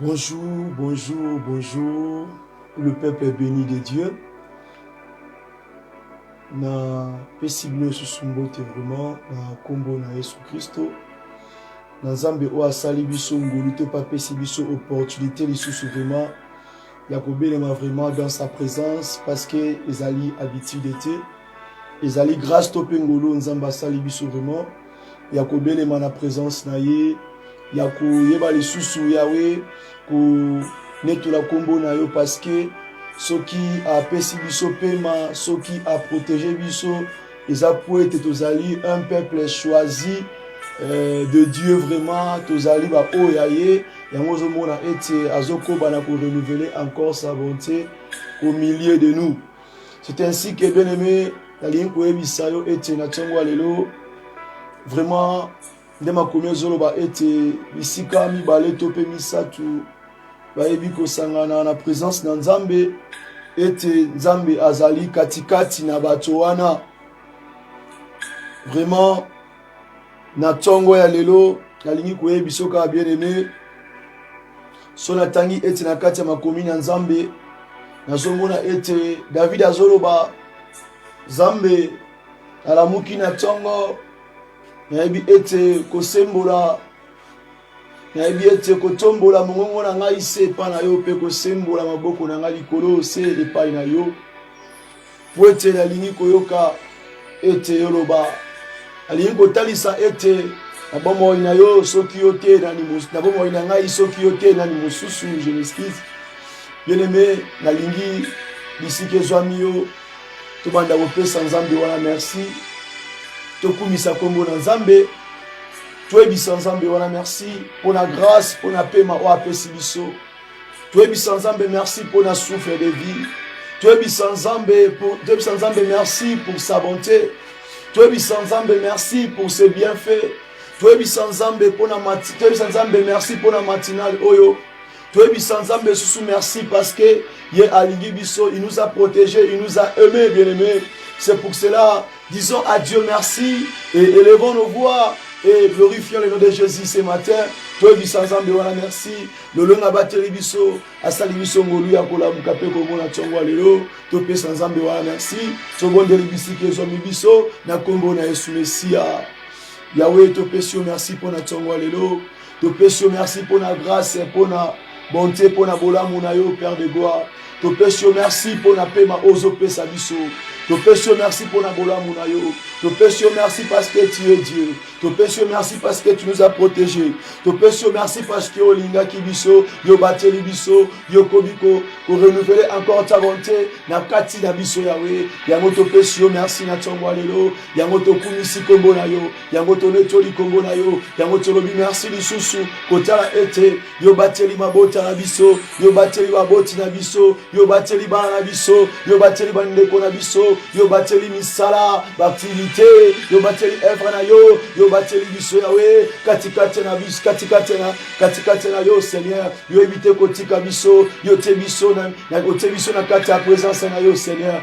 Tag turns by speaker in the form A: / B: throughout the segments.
A: Bonjour, bonjour, bonjour. Le peuple est béni de Dieu. Na pesi bino lisusu mbote vraiment na nkombo na yesu kristo na nzambe oyo asali biso ngolu te mpe apesi biso opportunité lisusu vraiment ya kobelema vraiment dans sa présence parce que ezali habitude te ezali grâce to mpe ngolu nzambe asali biso vraiment ya kobelema na présence na ye ya koyeba lisusu yawe konetola nkombo na yo parce que soki apesi biso mpema soki aprotege biso eza po ete tozali un peuple choisi euh, de dieu vraiment tozali baoyo ya ye yango ozomona ete azokoba na korenouvele encore sa bonté au milieu de nous c'est ainsi que bien aimé nalingi koyebisa yo ete na ntongo ya lelo vraiment nde makomi ezoloba ete bisika mibale to mpe misato bayebi kosangana na presence na nzambe ete nzambe azali katikati na bato wana vraiment na ntongo ya lelo nalingi koyebi soka bien aime so natangi ete na kati ya makomi na nzambe nazomona ete david azoloba nzambe alamuki na ntongo nayebi ete kosembola nayebi ete kotombola mongongo na ngai se epai na yo mpe kosembola maboko na ngai likolo se epai na yo mpo ete nalingi koyoka ete yoloba nalingi kotalisa ete na bomoi na yo soki yo te na bomoi na ngai soki yo te nani mosusu je m'excuse bien aimé nalingi bisika ezwami yo tobanda kopesa nzambe wana merci tokumisa nkombo na nzambe toyebisa nzambe wana merci mpo na grâce mpo na pema oyo apesi biso toyebisa nzambe merci mpo na souffle de vie toyebisa nzambe toyebisa nzambe merci pour sa bonté toyebisa nzambe merci pour ses bienfaits toyebisa nzambe mpo na toyebisa nzambe merci mpo na matinale oyo toyebisa nzambe lisusu merci parce que ye alingi biso il nous a protégé il nous a aimé bien aimé c'est pour cela disons à dieu merci et élevons nos voix et glorifions le nom de jésus ce matin toyebisa nzambe wana merci lolonga abateli biso asali biso ngolu ya kolamuka mpe komona ntongo ya lelo topesa nzambe wana merci tobondeli bisika ezwami biso na nkombo na yesu mesiya yawe topesi yo merci mpo na ntongo ya lelo topesi yo merci mpo na grâce mpo na bonte mpo na bolamu na yo père de gloire topesi yo merci mpo na pema oyo ozopesa biso topesi yo merci mpo na bolamu na yo topesi yo merci parce que tu es dieu topesi yo merci parce que tu nous as protégé topesi yo merci parce que olingaki biso yo bateli biso yo okomi korenouvele encore ta bonte na kati na biso yawe yango topesi yo merci na ntongo ya lelo yango tokumisi nkombo na yo yango tonetoli kombo na yo yango tolobi merci lisusu kotala ete yo bateli mabota na biso yo bateli baboti na biso yo bateli bana na biso yo bateli bandeko na biso yo bateli misala baaktivite yo bateli evre na yo yo bateli biso yawe katikati na biso katikati na katikati na yo seigneur yo yebi te kotika biso yo te biso na otie biso na kati ya presence na yo seigneur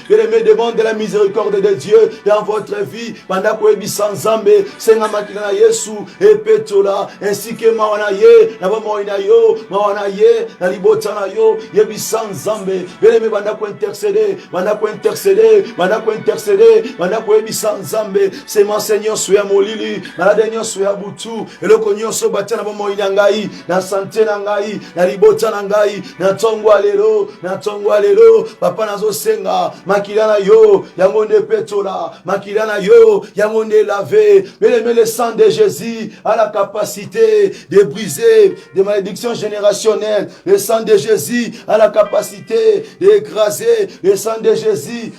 A: Je me demande de la miséricorde de Dieu dans votre vie. Banda koyebisa Nzambe, senga makila na Yesu epetola ainsi que mawa na ye na bomoi na yo, mawa na ye na libota na yo. Yebisa Nzambe, beleme banda kointercede, banda kointercede, banda kointercede, banda koyebisa Nzambe, semence nyonso ya molili, malade nyonso ya butu, eloko nyonso batya na bomoi na ngai na sante na ngai na libota na ngai na ntongo ya lelo na ntongo ya lelo papa nazosenga makila na yo yango nde epetola makila na yo yango nde elave belemele sang de jésus a la capacité de briser des malédictions générationnelles le sang de jésus a la capacité de écraser le sang de jésus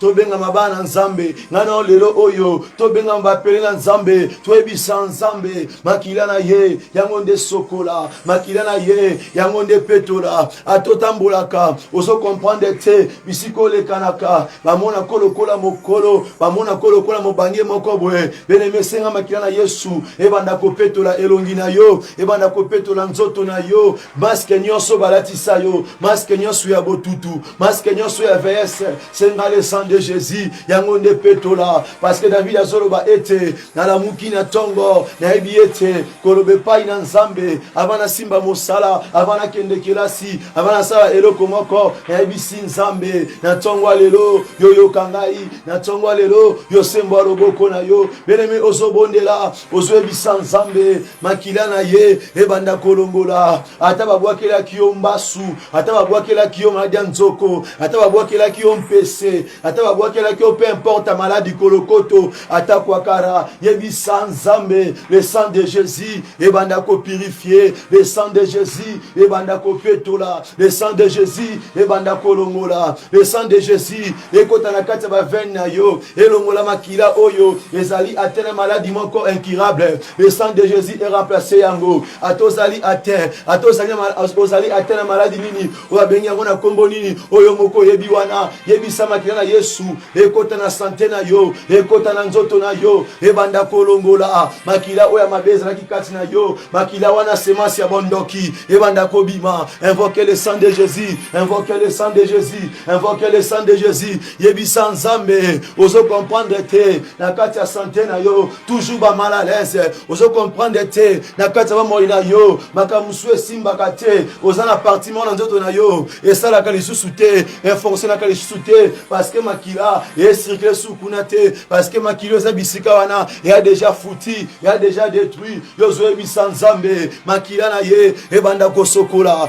A: tobengama bana nzambe ngai nao lelo oyo tobengama bapele na nzambe toyebisa nzambe makila na ye yango nde sokola makila na ye yango nde petola atotambolaka ozo komprendre te bisika olekanaka bamona ko lokola mokolo bamona ko lokola mobange moko boye beneme esenga makila na yesu ebanda kopetola elongi na yo ebanda kopetola nzoto na yo maske nyonso balatisa yo maske nyonso ya botutu maske nyonso ya vs senga le sang de jésus yango nde petola parceke david azoloba ete nalamuki na ntongo nayebi ete koloba epai na nzambe ava nasimba mosala ava nakende kelasi ava nasala eloko moko nayebisi nzambe na ntongo ya lelo yoyoka ngai na ntongo ya lelo yosembo ya loboko na yo belemi ozobondela ozoyebisa nzambe makila na ye ebanda kolongola ata babwakelaki yo mbasu ata babwakelaki yo maladi ya nzoko ata babwakelaki yo mpese ata babwakelaki yo mpe importe maladi kolokoto ata kwakara yebisa nzambe le sang de jésus ebanda kopurifie le sang de jésus ebanda kopetola le sang de jésus ebanda kolongola le sang de jésus ekota na kati ya bavene na yo elongola makila oyo ezali ate na maladi moko incurable le sang de jésus eramplace yango ata ozali ate ata ozali ate na maladi nini oyo abengi yango na nkombo nini oyo moko oyebi wana yebisa makila na yesu ekota na sante na yo ekota na nzoto na yo ebanda kolongola makila oyo ya mabe ezalaki kati na yo makila wana semasi ya bondoki ebanda kobima invoke le sang de jésus invoke le sang de jésus invoque le sang de jésus yebisa nzambe ozo comprendre te na kati ya sante na yo toujours bamal à l'aise ozo comprendre te na kati ya bamoi na yo makambo mosusu esimbaka te oza na parti moko na nzoto na yo esalaka lisusu te efonctionnaka lisusu te parce que makila ecircule su kuna te parce que makila eza bisika wana eya déjà fouti eya déjà détruit yo ozoyebisa nzambe makila na ye ebanda kosokola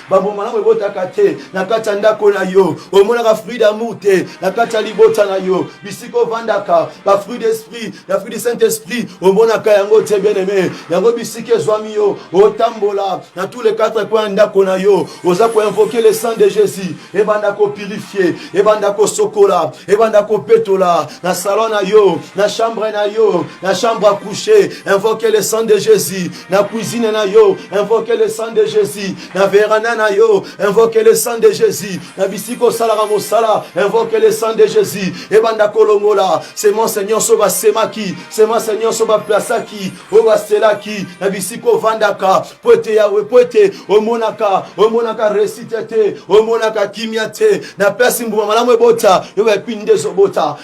A: bambo malamu ebotaka te na kati ya ndako na yo omonaka fruit d'amour te na kati ya libota na yo bisika ovandaka bafruit d'esprit na fruit du saint esprit omonaka yango te bien aime yango bisika ezwami yo otambola na tous les quatre coin ya ndako na yo oza koinvoke le sang de jésus ebanda kopurifie ebanda kosokola ebanda kopetola na salon na yo na chambre na yo na chambre à coucher invoke le sang de jésus na cuisine na yo invoque le sang de jésus na veranda na yo invoque le sang de jésus na bisika osalaka mosala invoque le sang de jésus ebanda kolongola semence nyonso basemaki semence nyonso baplasaki oyo baselaki na bisika ovandaka mpo ete yawe mpo ete omonaka omonaka resite te omonaka kimia te na place mbuma malamu ebota yo baepini nde ezobota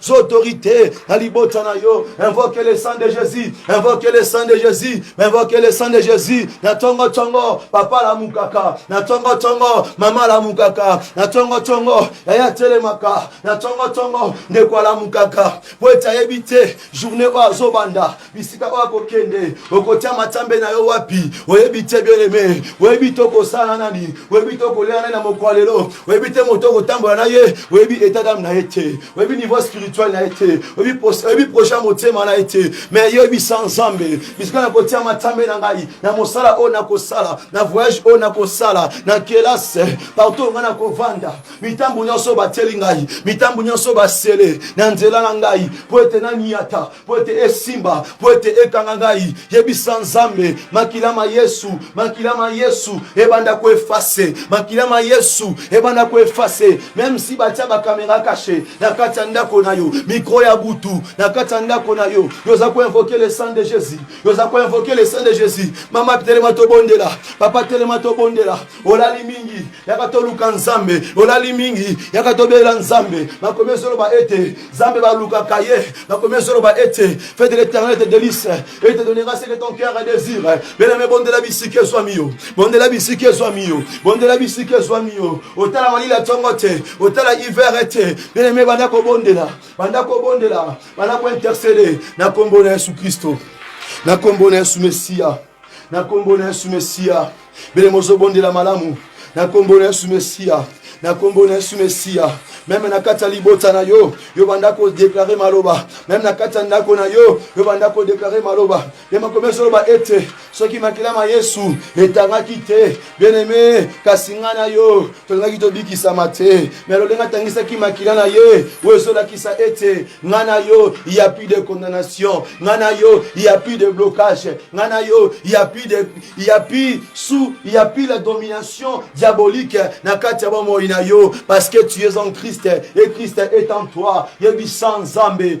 A: sous autorité, la libota na yo, invoquez le sang de Jésus, invoquez le sang de Jésus, invoquez le sang de Jésus, na tongo tongo, papa la mukaka, na tongo tongo, maman la mukaka, na tongo tongo, yaya telemaka, na tongo tongo, ndeko la mukaka, po ete ayebi te, journée oyo azobanda, bisika oyo akokende okotia matambe na yo wapi oyebi te bieleme oyebi te okosala nani oyebi te okolia nani na mokwa lelo oyebi te moto okotambola na ye oyebi etadame na ye te oyebi niveau spirituel na ye te oyebi projet ya motema na ye te me yebisa nzambe bisika nakotia matambe na ngai na mosala oyo nakosala na voyage oyo nakosala na kelase partout ngai nakovanda mitambo nyonso batieli ngai mitambo nyonso basele na nzela na ngai mpo ete naniata mpo ete esimba mpo ete ekanga ngai yebisa nzambe makila ma yesu makila ma yesu ebanda koefase makila ma yesu ebanda koefase meme si batya bakamera kashe na kati ya ndako na yo mikro ya butu na kati ya ndako na yo yo oza koinvoke le sang de jésus yo oza koinvoke le sang de jésus mama telema tobondela papa telema tobondela olali mingi yaka toluka nzambe olali mingi yaka tobela nzambe bakomi ezoloba ete nzambe balukaka ye bakomi ezoloba ete fete l'éternel te delice et te donnera ce que ton cœur a désir belame bondela bisika ezwami yo bondela bisika ezwami yo bondela bisika ezwami yo otala malili ya ntongo te otala hiver ete belame banda kobondela banda kobondela banda kointercede na nkombo na yesu kristo na nkombo na yesu mesiya na nkombo na yesu mesiya bele mozobondela malamu na nkombo na yesu mesiya na nkombo na yesu mesiya meme na kati ya libota na yo yo banda kodeklare maloba meme na kati ya ndako na yo yo banda kodeklare maloba ye makomi ezoloba ete soki makila ma yesu etangaki te bien aime kasi ngai na yo tolingaki tobikisama te me lolenge atangisaki makila na ye oyo ezolakisa ete ngai na yo ya plus de condamnation ngai na yo ya plus de blocage ngai na yo ya plus de ya plus sous ya plus la domination diabolique na kati ya bomoi na yo parce que tu es en christ et christ est en toi yebisa nzambe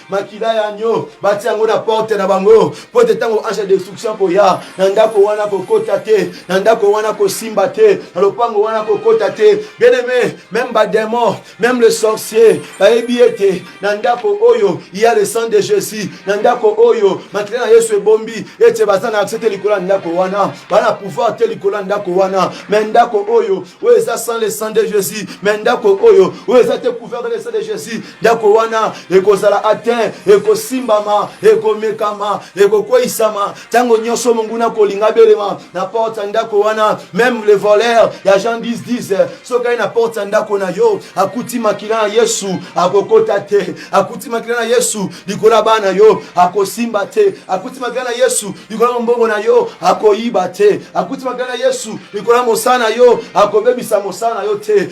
A: makila ya agneau batia yango na porte na bango mpo ete ntango ange ya destruction koya na ndako wana kokota te na ndako wana kosimba te na lopango wana kokota te bien aime meme bademon meme le sorcier bayebi ete na ndako oyo ya le sang de jésus na ndako oyo makila na yesu ebombi ete baza na akse te likolo ya ndako wana baa na pouvoir te likolo ya ndako wana me ndako oyo oyo eza sans le sang de jésus me ndako oyo oyo eza te couvert de le sang de jésus ndako wana ekozala atin ekosimbama ekomekama ekokweisama ntango nyonso monguna kolinga belema na porte ya ndako wana meme le voleur ya jean 1010 soki aye na porte ya ndako na yo akuti makila na yesu akokota te akuti makila na yesu likolo ya bana yo akosimba te akuti makila na yesu likolo ya mombongo na yo akoyiba te akuti makila na yesu likolo ya mosala na yo akobebisa mosala na yo te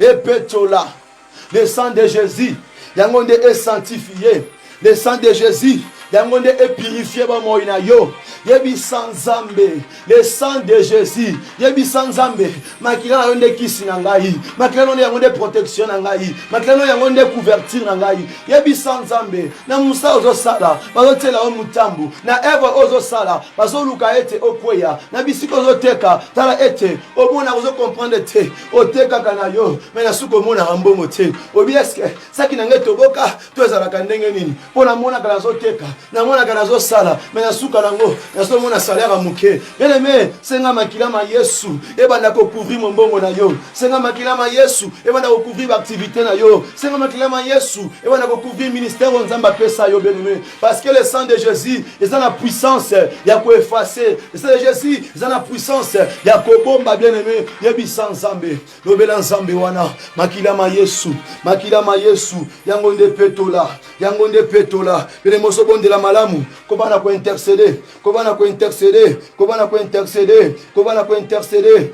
A: epetola le sang de jésus yango nde esanctifie le sang de jésus yango nde epurifie bomoi na yo yebisa nzambe le sang de jésus yebisa nzambe makila na yo nde kisi na ngai makila no nde yango nde protection na ngai makila no yango nde couverture na ngai yebisa nzambe na mosala ozosala bazotyela yo motambu na evre oyo ozosala bazoluka ete okweya na bisika ozoteka tala ete omona ozokomprendre te otekaka na yo me nasuki omonaka mbongo te obi eske saki na ngai toboka to ezalaka ndenge nini mpo namonaka nazoteka namonaka nazosala me nasuka nango nazomona salere moke eleme senga makila ma yesu ebanda kokouvrir mombongo na yo senga makila ma yesu ebanda kokouvrir baaktivité na yo senga makila ma yesu ebanda kokouvrir ministère oyo nzambe apesa yo beneme Parce que le sang de Jésus, ils ont la puissance, il y a quoi effacer. Le sang de Jésus, ils ont la puissance, il y a quoi bomba bien aimé, il y a bisan zambe, lobela zambe wana, makila ma Yesu, makila ma Yesu, yango nde petola, yango nde petola, pele moso bonde la malamu, koba na ko intercéder, koba na ko intercéder, koba na ko intercéder, koba na ko intercéder,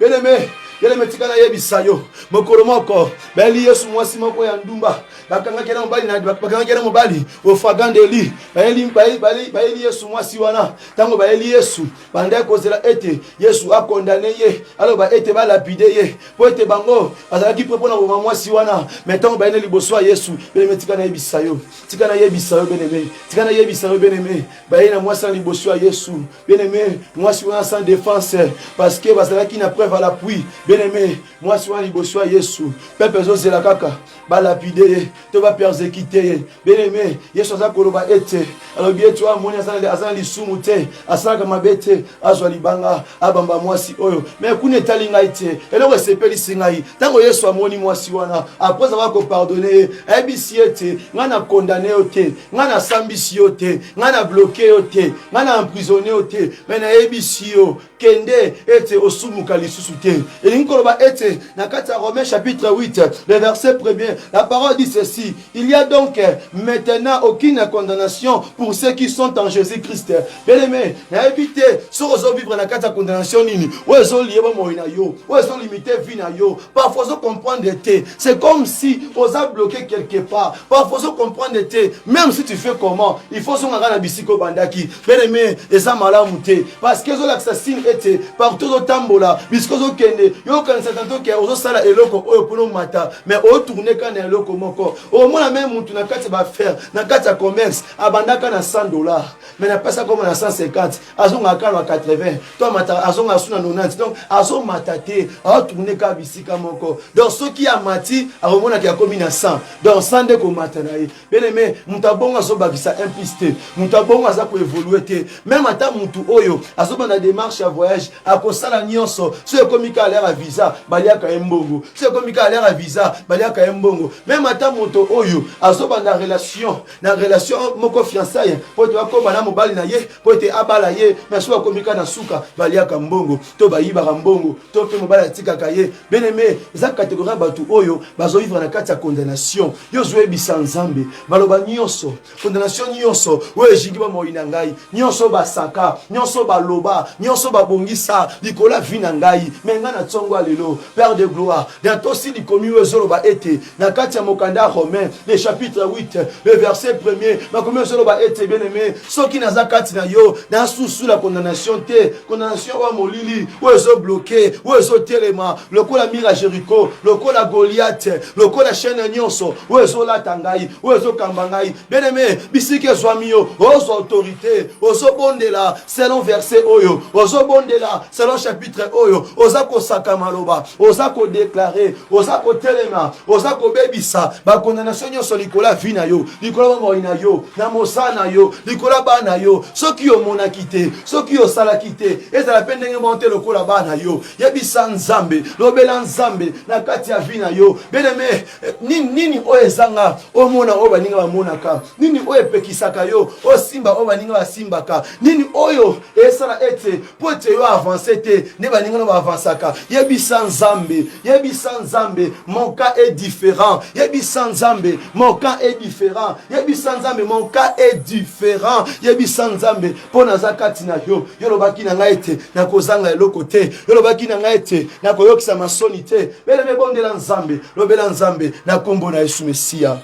A: Bien-aimé, bien-aimé, tika nayebisa yo mokolo moko bayeli yesu mwasi moko ya ndumba bakangaki na mobali bakangaki na mobali ofagandeli bayeli yesu mwasi wana ntango bayeli yesu bandaki kozela ete yesu akondane ye aloba ete balapide ye mpo ete bango bazalaki mpe mpo na boma mwasi wana me ntango bayene liboso ya yesu beneme tika nayebisa yo tika nayebisa yo beneme tika nayebisa yo beneme bayei na mwasi na liboso ya yesu bien aimé mwasi wana sans défense parce que bazalaki na preuve à l'appui bien aimé mwasi wana liboso ya yesu pepe ezozela kaka balapide ye to bapersecute ye bien aimé yesu aza koloba ete alobi ete oyo amoni aza na lisumu te asalaka mabe te azwa libanga abamba mwasi oyo me kuna etali ngai te eloko esepelisi ngai ntango yesu amoni mwasi wana apres aza kopardone ye ayebisi ye ete ngai na kondane yo te ngai nasambisi yo te ngai na bloke yo te ngai na emprisonne yo te me nayebisi yo kende ete osumuka lisusu te elingi koloba ete na kati ya romain chapitre 8 le verset premier la parole dit ceci il y a donc maintenant aucune condamnation pour ceux qui sont en jésus christ beleme nayebi te soki ozovivre na kati ya condamnation nini oyo ezolie bomoi na yo oyo ezolimite vie na yo parfois ozo comprendre te c'est comme si oza bloqué quelque part parfois ozo comprendre te même si tu fais comment il faut ozonga kaka na bisika obandaki bien aimé eza malamu te parce que ezolakisa signe ete partout ozotambola bisika ozokende yo okanisa tanto ke ozosala eloko oyo mpona omata mais otourne kaka na eloko moko omona meme motu na kati ya baaffaire na kati ya commerce abandaka na 100 dollar mais na pasi akoma na 150 azonga kaka na 80 to amata azonga asu na 90 donc azomata te aotourne kaka bisika moko donc soki amati akomonaka yakomi na 100 donc 100 nde komata na ye beneme moto abongo azobakisa un piste te moto abongo aza koevolue te meme ata motu oyo azobanda démarche ya voyage akosala nyonso soki ekomi kaka aliaka visa baliaka ye mbongo soki ekomi kaka aliaka visa baliaka ye mbongo meme ata moto oyo azobanda relation na relation moko fiançaille mpo ete bakoma na mobali na ye mpo ete abala ye na soki bakomika na suka baliaka mbongo to bayibaka mbongo to mpe mobali atikaka ye beneme eza kategori ya bato oyo bazoyivra na kati ya condamnation yo ozoyebisa nzambe maloba nyonso condamnation nyonso oyo ezingi bomoi na ngai nyonso basaka nyonso baloba nyonso babongisa likolo ya vi na ngai me ngai na ntongo ya lelo père de gloire datosi likomi oyo ezoloba ete na kati ya mokanda ya romain le chapitre 8 le verset premier makomi ozoloba ete bien aime soki naza kati na yo nasusula condamnation te condamnation oyo molili oyo ezobloke oyo ezotelema lokola mire ya jericho lokola goliate lokola chaine nyonso oyo ezolata ngai oyo ezokamba ngai bien aime bisika ezwami yo ozwa autorité ozobondela selon verset oyo ozobondela selon chapitre oyo oza kosaka maloba oza kodeklare oza kotelema oza kobebisa bakondanatio nyonso likolo ya vi na yo likolo ya bomoi na yo na mosala na yo likolo ya bana yo soki omonaki te soki osalaki te ezala mpe ndenge moko te lokola bana yo yebisa nzambe lobela nzambe na kati ya vi na yo beneme eh, nini, nini oyo ezanga omona oyo baninga bamonaka nini oyo epekisaka yo osimba oyo baninga basimbaka nini oyo esala ete mpo ete yo avance te nde baninga na baavansaka yebisa nzambe yebisa nzambe mon cas est différent yebisa nzambe mon cas est différent yebisa nzambe mon cas est différent yebisa nzambe mpo naza kati na yo yo olobaki na ngai ete nakozanga eloko te yo olobaki na ngai ete nakoyokisa masoni te bele mebondela nzambe lobela nzambe na nkombo na yesu mesiya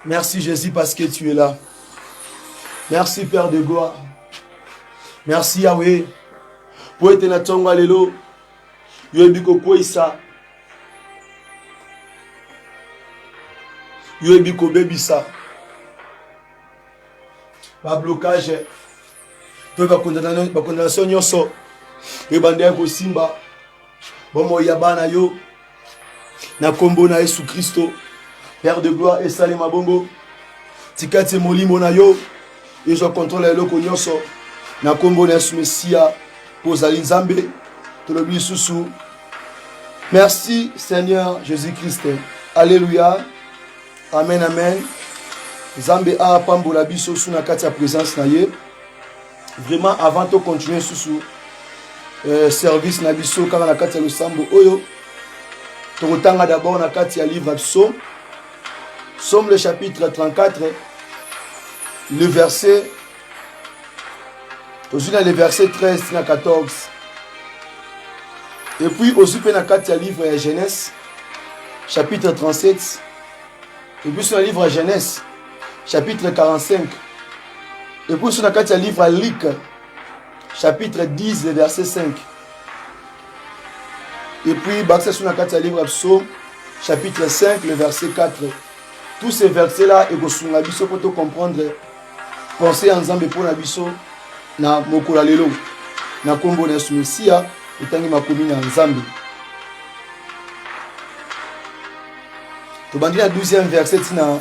A: Merci Jésus parce que tu es là. Merci Père de gloire. Merci Yahweh. Po ete na tonga lelo yo ebi kokweyisa yo ebi kobebisa bablokage mpe bakondanation nyonso ebandaki kosimba bomoi ya bana yo na nkombo na yesu kristo père de gloire esalema bongo tika tie molimo na yo ezwa kontrole ya eloko nyonso na nkombo na yesu mesiya mpo ozali nzambe tolobi lisusu merci seigneur jésus christ alleluya amen amen nzambe apambola biso su na kati ya présence na ye vraiment avant to continuer susu euh, service na biso kaka na kati ya losambo oyo tokotanga d'abord na kati ya livre ya psaume psaume le chapitre 34 le verset tozwi na le verset 13 na 14 et puis ozwi mpe na kati ya livre ya genèse chapitre 37 et puis sur le livre ya genèse chapitre 45 ekusu na kati ya livre ya lika chapitre 10 le verset 5 epuis bakisa so na kati ya livre ya psaume chapitre 5 le verset 4 tous ces versets là ekosunga biso mpo tocomprendre pensée ya nzambe mpo na biso na mokolo ya lelo na nkombo na yesu mesiya etangi makomi na nzambe tobandi na 12e verset ntina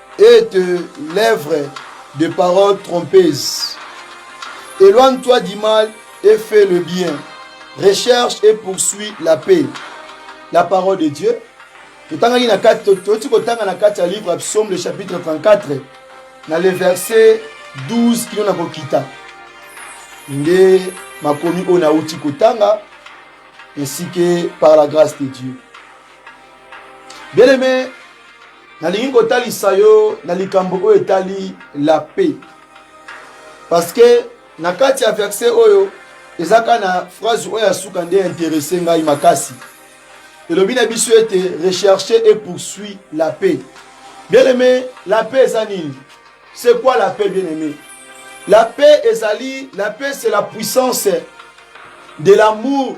A: est l'œuvre de paroles trompeuses. Éloigne-toi du mal et fais le bien. Recherche et poursuis la paix. La parole de Dieu. totangaki na kati toyoti kotanga na kati ya livre ya psaume le chapitre 34 na le verset 12 kino na kokita nde makomi oyo nauti kotanga ainsi que par la grâce de dieu bien aimé nalingi kotalisa yo na likambo oyo etali la paix parce que na kati ya verse oyo eza kaka na phrase oyo ya suka nde interese ngai makasi elobi na biso ete recherche et poursuit la paix bien aimé la paix eza nini c'est quoi la paix bien aimé la paix ezali la paix c'est la puissance de l'amour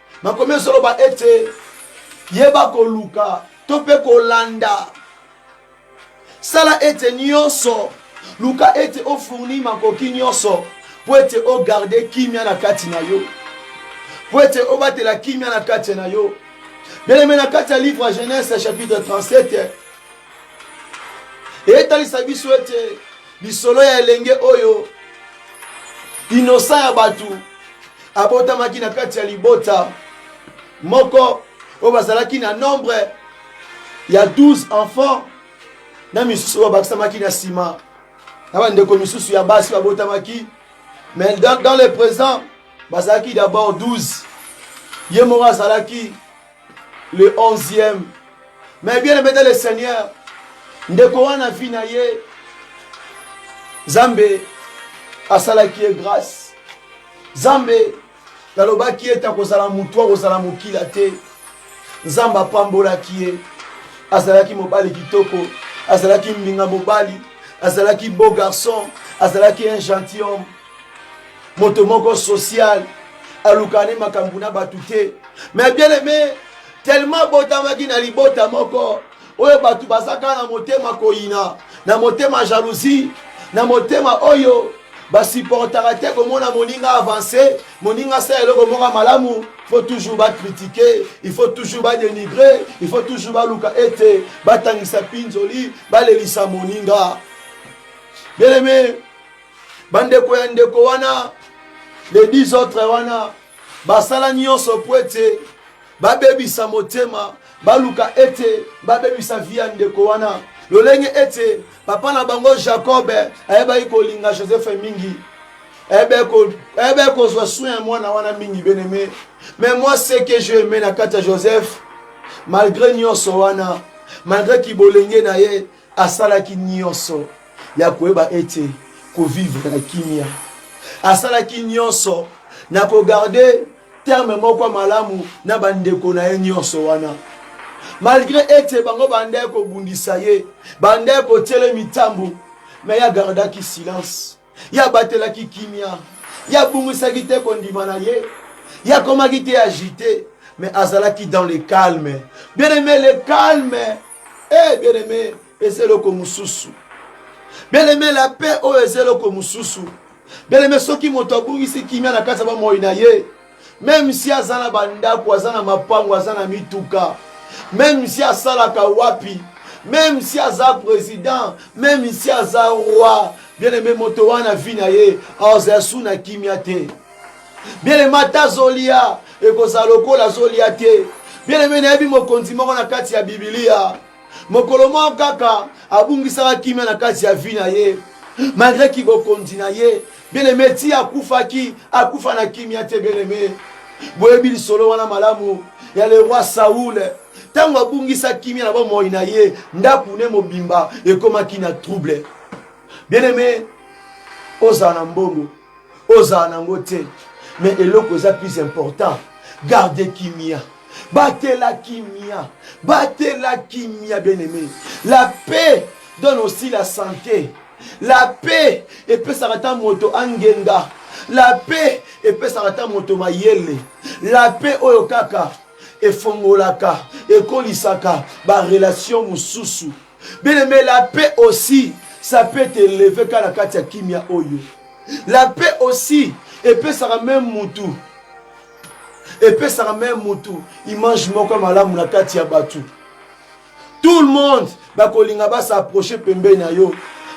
A: makomi ezoloba ete yeba koluka to mpe kolanda sala ete nyonso luka ete ofourni makoki nyonso mpo ete ogarde kimia na kati na yo mpo ete obatela kimia na kati na yo beleme na kati ya livre ya genese chapitre 37 etalisa biso ete Lisolo ya elenge oyo inosa ya bato abotamaki na kati ya libota moko oyo bazalaki na nombre ya 12 enfants na misusu oyo babakisamaki na nsima na bandeko misusu ya basi babotamaki mais dans, dans le présent bazalaki d'abord 12 ye moko azalaki le 11e mais bien aimé dans le seigneur ndeko wana vie na ye zambe asalaki ye grâce zambe nalobaki ete akozala motu akozala mokila te nzambe apambolaki ye azalaki mobali kitoko azalaki mbinga mobali azalaki beau garçon azalaki un gentil homme moto moko social alukaka ne makambo na bato te mais bien aime tellement abotamaki na libota moko oyo bato baza kaka na motema koyina na motema jalousie na motema oyo basupportaka te komona moninga avance moninga asala eloko moko malamu faut toujours bakritike il faut toujours badenigre il faut toujours baluka ete batangisa mpinzoli balelisa moninga bien aime bandeko ya ndeko wana le 10 autres wana basala nyonso mpo ete babebisa motema baluka ete babebisa vi ya ndeko wana lolenge ete papa na bango jacob ayebaki kolinga joseph mingi ayebaki kozwa soin ya mwana wana mingi beneme mais moi ce que je aime na kati ya joseph malgré nyonso wana malgré kibolenge na ye asalaki nyonso ya koyeba ete kovivre na kimia asalaki nyonso na kogarde terme moko malamu na bandeko na ye nyonso wana malgre ete bango bandaki kobundisa ye bandaki kotyele mitambo me ye agardaki silence Ye abatelaki kimia, ye abungisaki te kondima na ye, ye akomaki te agite, mais azalaki dans le calme. Bien aime, le calme, eh bien aime, eza eloko mosusu. Bien aime, la paix oyo eza eloko mosusu. Bien aime, soki moto abungisi kimia na kati ya bomoi na ye, meme si aza na bandako aza na mapango aza na mituka meme si asalaka wapi meme si aza président meme si aza roi bien aime moto wana vi na ye aozala su na kimia te bien aime ata azolia ekozala lokola azolia te bien aime nayebi mokonzi moko na kati ya bibilia mokolo moko kaka abungisaka kimia na kati ya vi na ye malgre ki bokonzi na ye Bien-aime ti akufaki akufa na kimia te bien-aime. Boyebi lisolo wana malamu ya le roi Saul ntango abungisa kimia na bomoi na ye, ndako ne mobimba ekomaki na trouble. Bien-aime, ozala na mbongo, ozala na yango te, mais eloko eza plus important, garde kimia batela kimia batela kimia bien-aime la paix donne aussi la santé La paix epesaka ata moto angenga. La paix epesaka ata moto mayele. La paix oyo kaka efongolaka, ekolisaka ba relation mosusu. Bien aimé, la paix aussi ça peut te lever kaka na kati ya kimia oyo. La paix aussi epesaka meme mutu epesaka meme mutu image moko malamu na kati ya batu. tout le monde bakolinga ba s'approcher pembeni na yo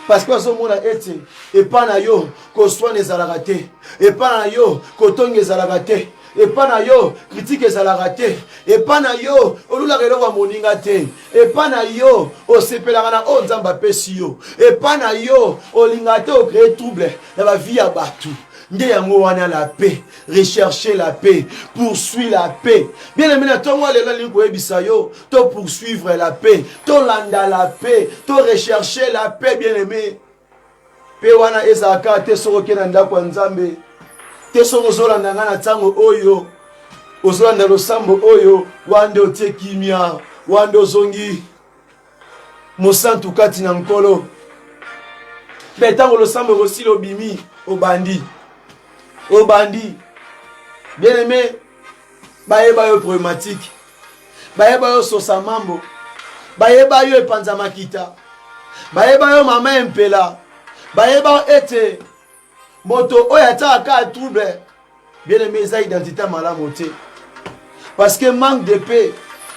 A: parce que bazomona ete epai na yo koswana ezalaka te epai na yo kotonga ezalaka te epai na yo kritike ezalaka te epai na yo olulaka eloko ya moninga te epai na yo osepelaka na oyo nzambe apesi yo epai na yo olingaka te okreye trouble na bavie ya bato nde yango wana la paix recherche la paix poursuit la paix bien aimé na ntongo ya lelo alingi koyebisa yo to poursuivre la paix tolanda la paix to recherche la paix bien aimé mpe wana ezalaka te soki oke na ndako ya nzambe te soki ozolanda ngai na ntango oyo ozolanda losambo oyo wana nde otie kimia wana nde ozongi mosantu kati na nkolo mpe ntango losambo ekosila obimi obandi obandi bien aime bayeba yo problématique bayeba yo sosa mambo bayeba yo epanza makita bayeba yo mama empela bayeba ete moto oyo atiaka kaka trouble bien aime eza identité ya malamu te parce que manque de paix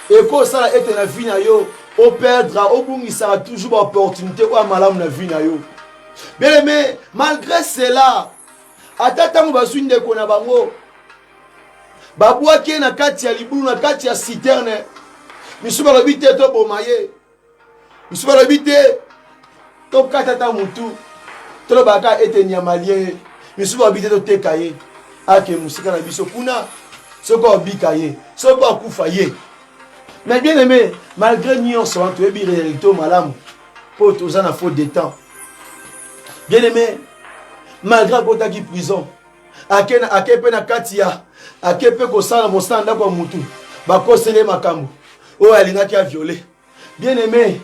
A: ekosala ete na vie na yo operdre obungisaka toujours baopportunité oyo ya malamu na vie na yo bien aime malgré cela ata ntango bazwi ndeko na bango babwaki ye na kati ya libulu na kati ya citerne misusu balobi te toboma ye misusu balobi te tokata ata motu tolobaka ete nyama lie ye misusu balobi te toteka ye ake mosika na biso kuna soki obika ye soki akufa ye mais bien aimé malgré nyonso wana toyebi réalité oyo malamu mpo toza na faute de temps bien aimé malgré akotaki prison ake, na, ake mpe na kati ya ake mpe kosala mosala ndako ya motu bakosele makambo oyo alingaki aviole bien aime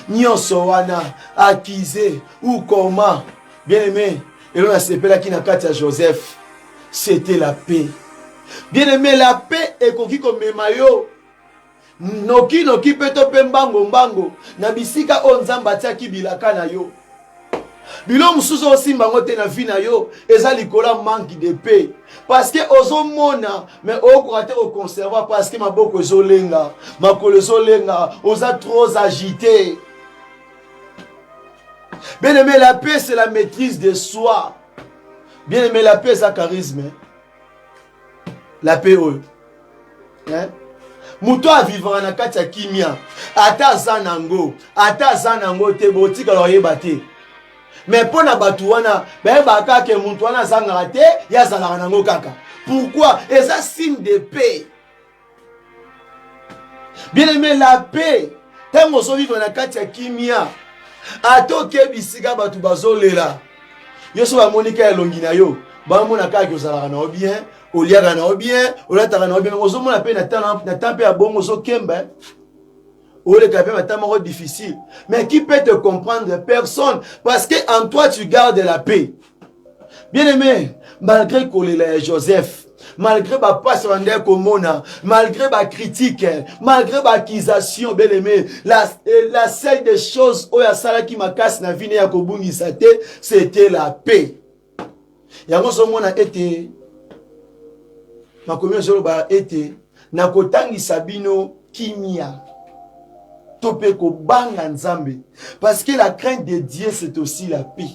A: nyonso wana akize ou comment bien aime elo nasepelaki na kati ya joseph c'était la paix bien aime la paix ekoki komema yo nokinoki mpe to mpe mbango mbango na bisika oyo nzambe atiaki bilaka na yo bilo mosusu osimba yango te na vie na yo eza likolo ya manque de paix parceke ozomona me okoka te koconserva parceke maboko ezolenga makolo ezolenga oza trop agité bien aimé la paix c'est la maîtrise de soi bien aimé la paix eza charisme la paix oyo hein? moto oyo avivaka na kati ya kimia ata aza nango ata aza nango te botikala oyeba te me mpo na bato wana bayebaka kaka ke moto wana azangaka te ye azalaka nango kaka pourkui eza signe de paix bien aime la paix ntango ozovivre na kati ya kimia ata okebi esika bato bazolela yo so bamoni ka elongi na yo bamona kaka ke ozalaka na yo bien oliaka na yo bien olataka na yo bien ozomona mpe na temps mpe ya bongo ozokemba oleka mpe mata moko difficile mais qui peut te comprendre personne parce que en toi tu gardes la paix bien aimé malgré kolela ya joseph malgré bapasi bandaki komona malgré bacritique malgré baaccusation beleme la, eh, la seule des choses oyo asalaki makasi na vine ya kobungisa te c'était la paix yango ozomona ete makomi ezoloba ete nakotangisa bino kimia to mpe kobanga nzambe parce que la crainte de dieu c'est aussi la paix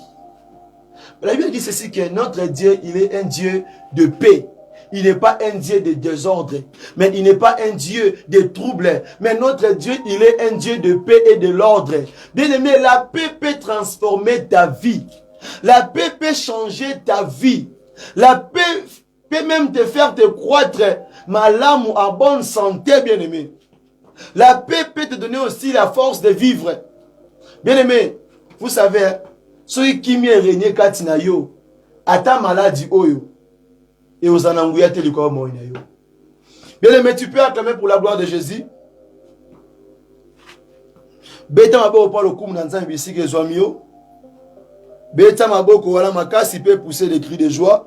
A: la bible dit ceci que notre dieu il est un dieu de paix Il n'est pas un Dieu de désordre, mais il n'est pas un Dieu de trouble. Mais notre Dieu, il est un Dieu de paix et de l'ordre. Bien aimé, la paix peut transformer ta vie. La paix peut changer ta vie. La paix peut même te faire te croître malamu en bonne santé, bien-aimé. La paix peut te donner aussi la force de vivre. Bien-aimé, vous savez, soki kimia erenie kati na yo, ata maladi oyo, Et aux ananguya te likolo moi na yo. Bien aimé, tu peux acclamer pour la gloire de Jésus. Beta maboko pa lokumu na Nzambe bisika ezwami yo. Beta maboko wana makasi pe pousser des cris de joie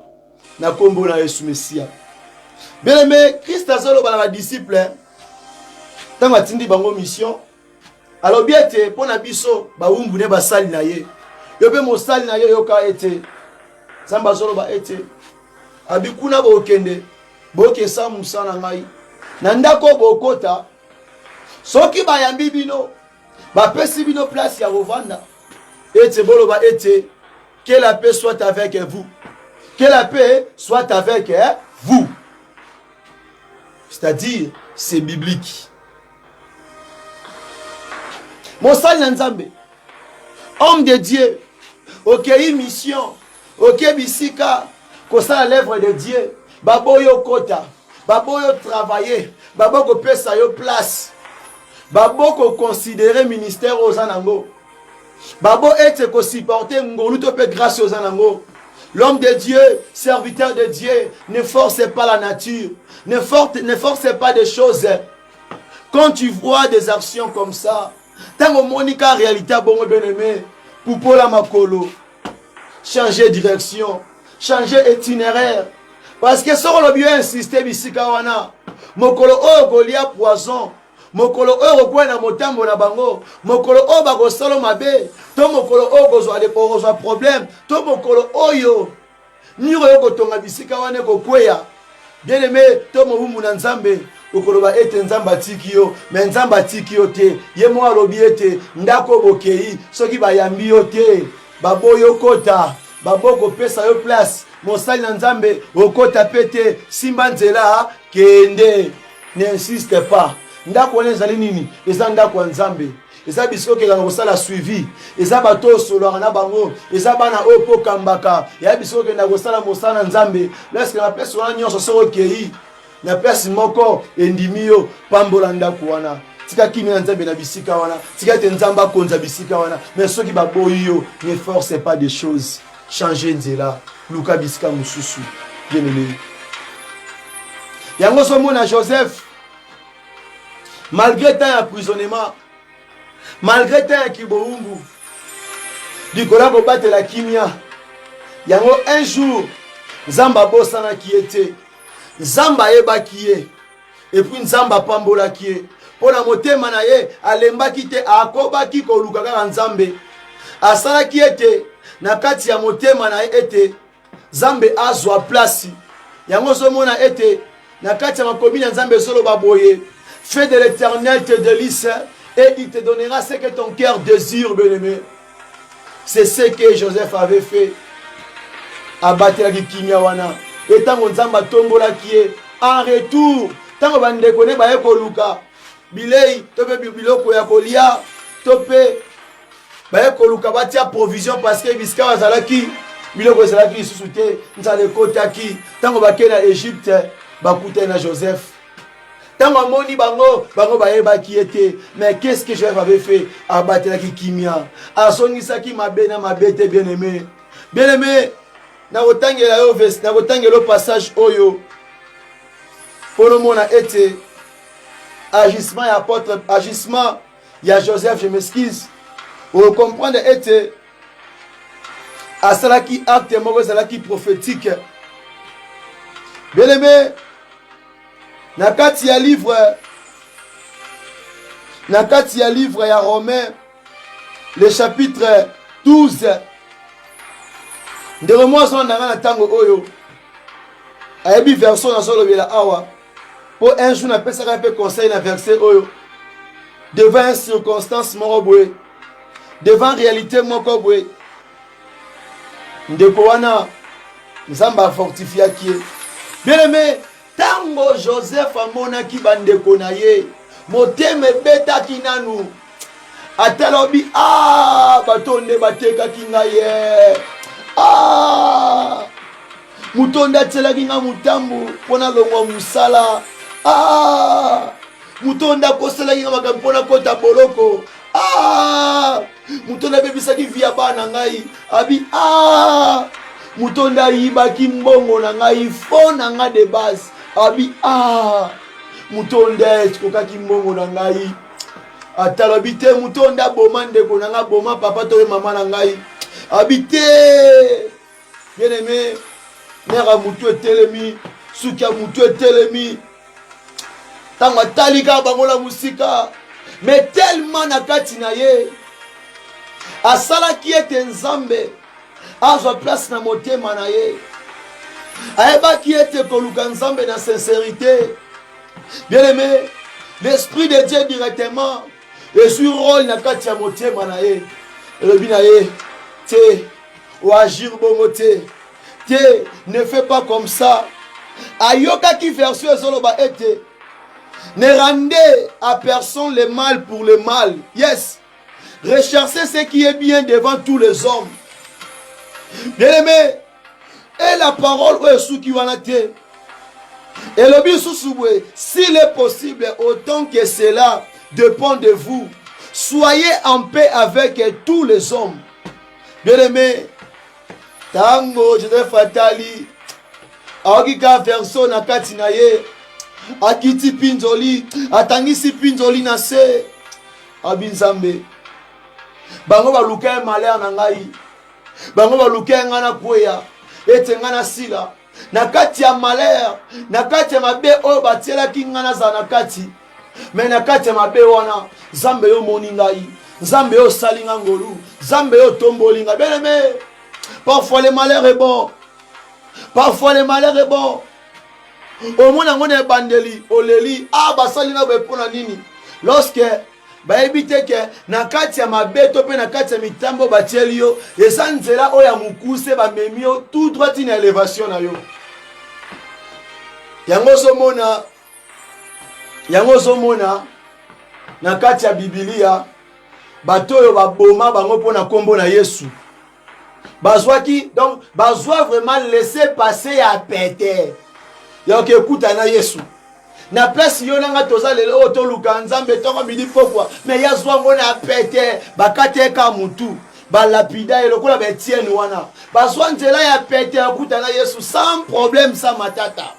A: na kombo na Yesu Mesia. Bien aimé, Christ azoloba na ba disciples. Tango atindi bango mission, alobi ete mpo na biso bawumbu nde basali na ye yo mpe mosali na yo yoka ete nzambe azoloba ete abi kuna bokende bokesa mosa na ngai na ndako bokota soki bayambi bino bapesi bino place ya kovanda ete boloba ete que la paix soit avec vous que la paix soit avec vous c'est-à-dire c'est biblique mosali na nzambe homme de dieu okei mission oke bisika kosala l'œuvre de dieu baboyi okota baboyi otravaille baboyi kopesa yo place babo koconsidere ministère oyo oza nango babo ete kosupporte ngolu to mpe grâce oyo oza nango L'homme de Dieu, serviteur de Dieu, ne force pas la nature, ne force, ne force pas des choses. quand tu vois des actions comme ça ntango omoni ka réalité ya bongo bien aimé pupola makolo changer direction changer itinéraire parce que soki olobi yo insiste bisika wana mokolo oyo okolia poison mokolo oyo okokwea na motambo na bango mokolo oyo bakosala mabe to mokolo oyo okozwa problème to mokolo oyo miro yo kotonga bisika wana ekokweya bieneme to mowumbu na nzambe okoloba ete nzambe atiki yo me nzambe atiki yo te ye moko alobi ete ndako bokei soki bayambi yo te baboyi okota baboyi kopesa yo place mosali na nzambe okota mpe te simba nzela kende n'insiste pas ndako wana ezali nini eza ndako ya nzambe eza bisika okendaka kosala suivi eza bato oyo osololaka na bango eza bana oyo mpo okambaka ya bisika okendaka kosala mosala na nzambe laske na place wana nyonso soki okei na place moko endimi yo pambola ndako wana tika kimia ya nzambe na bisika wana tika ete nzambe akonza bisika wana mais soki baboyi yo ne force pas des choses change nzela luka bisika mosusu bien aimé yango ozomona joseph malgre temps ya prisonnement malgre temps ya kiboumbu likolo ya kobatela kimia yango un jour nzambe abosanaki ye te nzambe ayebaki ye epuis nzambe apambolaki ye mpo na motema na ye alembaki te akobaki koluka kaka nzambe asalaki ete na kati ya motema na ye ete nzambe azwa place yango ozomona ete na kati ya makomi na nzambe ezoloba boye fait de l'éternel te delise et il te donnera ce que ton cœur désire bien aimé c'est ce que joseph avait fait abatelaki kimia wana e ntango nzambe atombolaki ye en retour ntango bandeko ne baye koluka bilei to mpe biloko ya kolia to mpe baye koluka batia provision parceke bisika bazalaki biloko ezalaki lisusu te nzala ekotaki ntango bakei na egypte bakutani na joseph ntango amoni bango bango bayebaki ye te mais qu'est ce que joseph avait fait abatelaki kimia azongisaki mabe na mabe te bien aimé bien aimé nakotangela yo vesi nakotangela yo passage oyo mpo nomona ete agissement ya apôtre agissement ya joseph je m'excuse okomprendre ete asalaki acte moko ezalaki prophétique beleme na kati ya livre na kati ya livre ya romain le chapitre 12 ndeko mwasi wana na ngai na ntango oyo ayebi version nazolobela awa mpo un jour napesaka mpe conseil na verset oyo devant circonstance moko boye devant réalité moko boye ndeko wana nzambe afortifiaki ye bien aime ntango joseph amonaki bandeko na ye motema ebetaki nanu ata lobi a ah, bato nde batekaki ngai ye a ah, moto nde atielaki ngai motambu mpo nalongwa mosala a ah, moto nde akoselaki ngai makambo mpo nakota boloko a moto nde abebisaki vi ya bana na ngai abi a moto nde ayibaki mbongo na ngai fo na ngai de base abi a moto nde ekokaki mbongo na ngai atalobi te moto oyo nde aboma ndeko na ngai aboma papa to ye mama na ngai abi te bien aime mare ya motu etelemi suki ya motu etelemi ntango atali kaka bango na mosika me telema na kati na ye asalaki ete nzambe azwa place na motema na ye ayebaki ete koluka nzambe na sincerite Bien aimé, l'esprit de Dieu directement ezwi role na kati ya motema na ye elobi na ye te oagir bongo te te ne fais pas comme ça ayokaki version ezoloba ete ne rendez à personne le mal pour le mal yes recherchez ce qui est bien devant tous les hommes bien aimé e la parole oyo esuki wana te elobi lisusu boye s'il est possible autant que cela dépend de vous soyez en paix avec tous les hommes bien aimé ntango joseph atali aoki ka verso na kati na ye akiti mpinzoli atangisi mpinzoli na se abi nzambe bango baluka ye malere na ngai bango balukaki ngai nakweya ete ngai nasila na kati ya malere na kati ya mabe oyo batielaki ngai nazala na kati me na kati ya mabe wana nzambe yo omoni ngai nzambe yo osali ngai ngolu nzambe yo otomboli ngai beneme parfois le malheur est bon parfois le malheur est bon omona yango na ebandeli oleli a ah, basali ngai boye mpo na nini lorsque bayebi te ke na kati ya mabeto mpe na kati ya mitambo batieli yo eza nzela oyo ya mokuse bamemi yo tout droit tina elevation na yo yango ozomona yango ozomona na kati ya bibilia bato oyo baboma bango mpo na nkombo na yesu bazwaki donc bazwa vraiment laisse passe ya pete ya oke ekuta na yesu na place yo na ngai toza lelo oyo toluka nzambe ntongo midi pokwa me ya zwa ngo na pete bakateka motu balapida ye lokola baetiene wana bazwa nzela ya pete ya kuta na yesu sans problème sans matata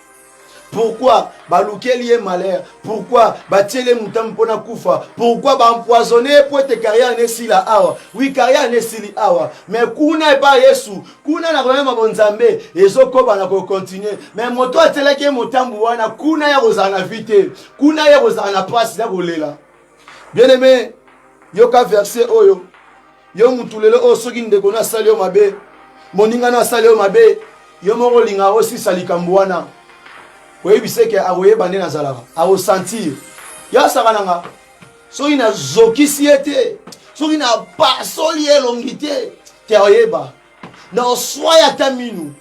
A: pourquoi balukeli ye malheur pourquoi batieli ye motambo mpona kufa pourquoi baempoisonne ye mpo ete carrière nesila awa wi carrière nesili awa mais kuna epa yesu kuna na koyema bonzambe ezokoba na kocontinue mais moto atielaki ye motambo wana kuna ya kozala na vi te kuna ya kozala na mpasi ya kolela bien aime yoka verse oyo yo mutu lelo oyo soki ndeko na asali yo mabe moninga na asali yo mabe yo moko olinga osisa likambo wana oyebisa eke akoyeba nde nazalaka akosentir yo asaka na nga soki nazokisi ye te soki napasoli ye elongi te te oyeba na oswaya ata minu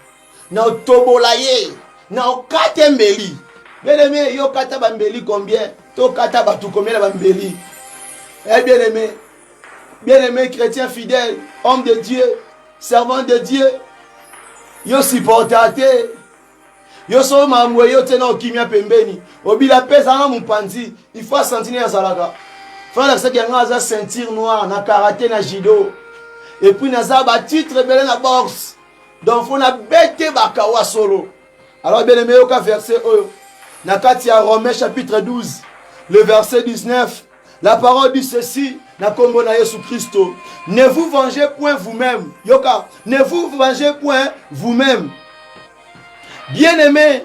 A: na otobola ye na okate mbeli bien aime yo kata bambeli combien tokata bato combien na bambeli eh bien aime bien aime chrétien fidèle homme de dieu servant de dieu yo supporta te yo so mambo eyo te na okimia pembeni obila mpe ezanga mopanzi ifo asantine azalaka falakisaki yango aza ceinture noire na karate na judo epuis naza batitre ebele na boxe donc fo nabete bakawa solo alors bien aime yoka verset oyo na kati ya romain chapitre 12 le verset 19 la parole dit ceci na nkombo na yesu kristo ne vous vengez point vous-même yoka ne vous vengez point vous-même bien aimé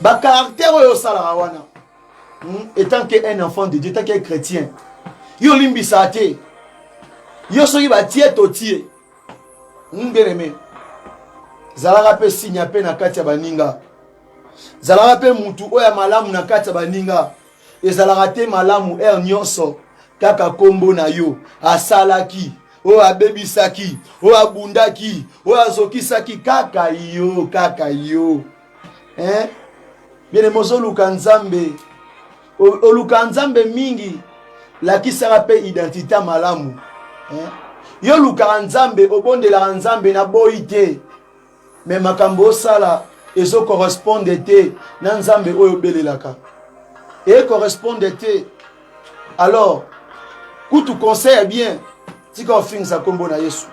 A: ba caractère oyo osalaka wana hmm? etant que un enfant de dieu etant que chrétien yo olimbisa te yo soki batie totie hmm, bien aimé zalaka mpe sinya mpe na kati ya baninga zalaka mpe motu oyo ya malamu na kati ya baninga ezalaka te malamu heure nyonso kaka nkombo na yo asalaki oyo abebisaki oyo abundaki oyo azokisaki kaka yo kaka yo eh? bene mozoluka nzambe oluka nzambe mingi lakisaka mpe identite malamu eh? yo olukaka nzambe obondelaka nzambe na boyi te mais makambo osala ezo correspondre te na nzambe oyo obelelaka e correspondre te alors kutu conseil ya bien tika ofingisa nkombo na yesu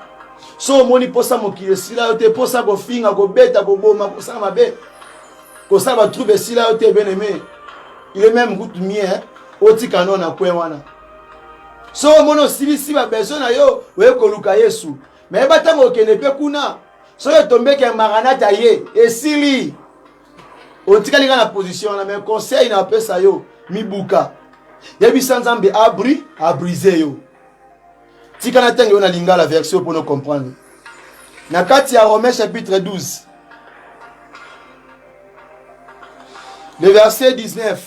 A: so omoni mposa mokili esila yo te mposa kofinga kobeta koboma kosala mabe kosala batrouble esila yo te beneme ile meme kutu mie otika no na kwe wana so omoni osilisi babezo na yo oye koluka yesu me yeba ntango okende mpe kuna soki etombeke ya maranata ye esili otikali nga na position wana me conseil na apesa yo mibuka yebisa nzambe abri abrise yo tika na ntango yo na lingala version mpo no comprendre na kati ya romain chapitre 12 le verset 19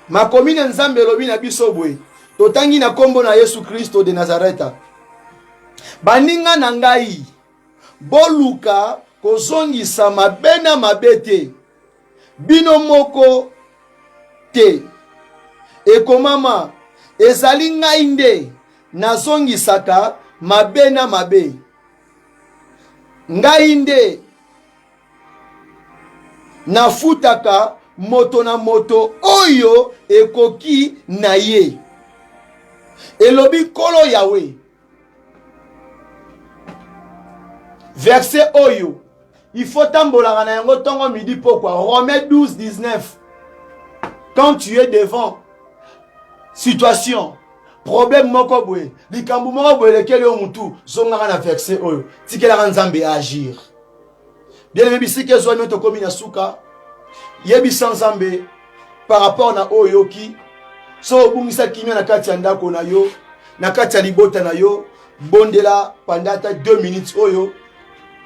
A: Makomi na Nzambe elobi na biso boye, totangi na nkombo na Yesu Kristo de Nazareta, baninga na ngai, boluka kozongisa mabe na mabe te, bino moko te. Ekomama, ezali ngai nde nazongisaka mabe na mabe, ngai nde nafutaka moto na moto oyo ekoki na ye elobi nkolo yawe verse oyo ifo tambolaka na yango ntongo midi pokwa rome 12 19 quand tu es devant situation problème moko boye likambo moko boye elekeli yo motu zongaka na verse oyo tikelaka nzambe agir bien-aime bisika ezwami tokomi na suka yebisa nzambe par rapport na oyo oyoki so obungisa kimia na kati ya ndako na yo na kati ya libota na yo bondela panda ata 2 minutes oyo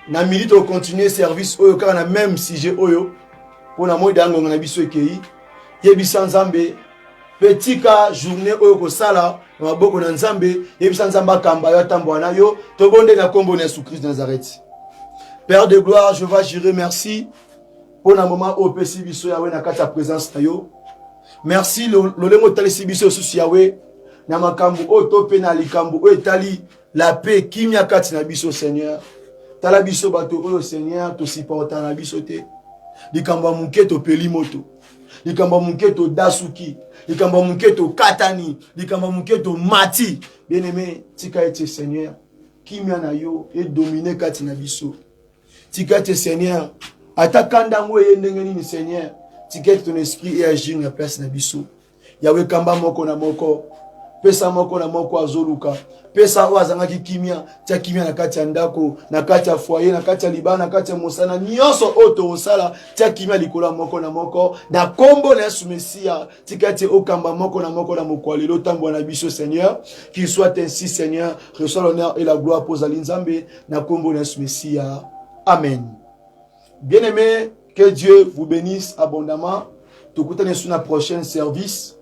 A: na midi tokocontinue service oyo kaka na meme sujet oyo mpo na moi dangonga na biso ekei yebisa nzambe mpe tika journée oyo okosala na maboko na nzambe yebisa nzambe akamba yo atambola na yo tobonde na nkombo na yesu christ nazareti père de gloire je va jure merci mpo na moma oyo opesi biso yawe na kati ya présence na yo merci lolenge otalisi biso lisusu yawe na makambo oyo to mpe na likambo oyo etali la paix kimia kati na biso seigneur tala biso bato oyo seigneur tosiporta na biso te likambo ya moke topeli moto likambo ya moke todasuki likambo ya moke tokatani likambo ya moke tomati bien aime tika ete seigneur kimia na yo edomine kati na biso tika ete seigneur ata kanda yango eye ndenge nini seigneur tika ete ton esprit eagir na place na biso yawe kamba moko na moko pesa moko na moko azoluka pesa oyo azangaki kimia tia kimia na kati ya ndako na kati ya foye na kati ya libala na kati ya mosala nyonso oyo tokosala tia kimia likolo ya moko na moko na kombo na yesu mesia tika ete okamba moko na moko na mokwa lelo tambwa na biso seigneur qu'il soit ainsi seigneur reçois l'honneur et la gloire mpo ozali nzambe na kombo na yesu mesia amen bien aimé que dieu vous bénisse abondamment tokutani sur na prochaine service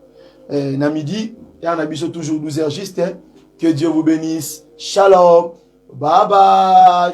A: eh, na midi ya na biso toujours 12 heures juste eh. que dieu vous bénisse shalom bye bye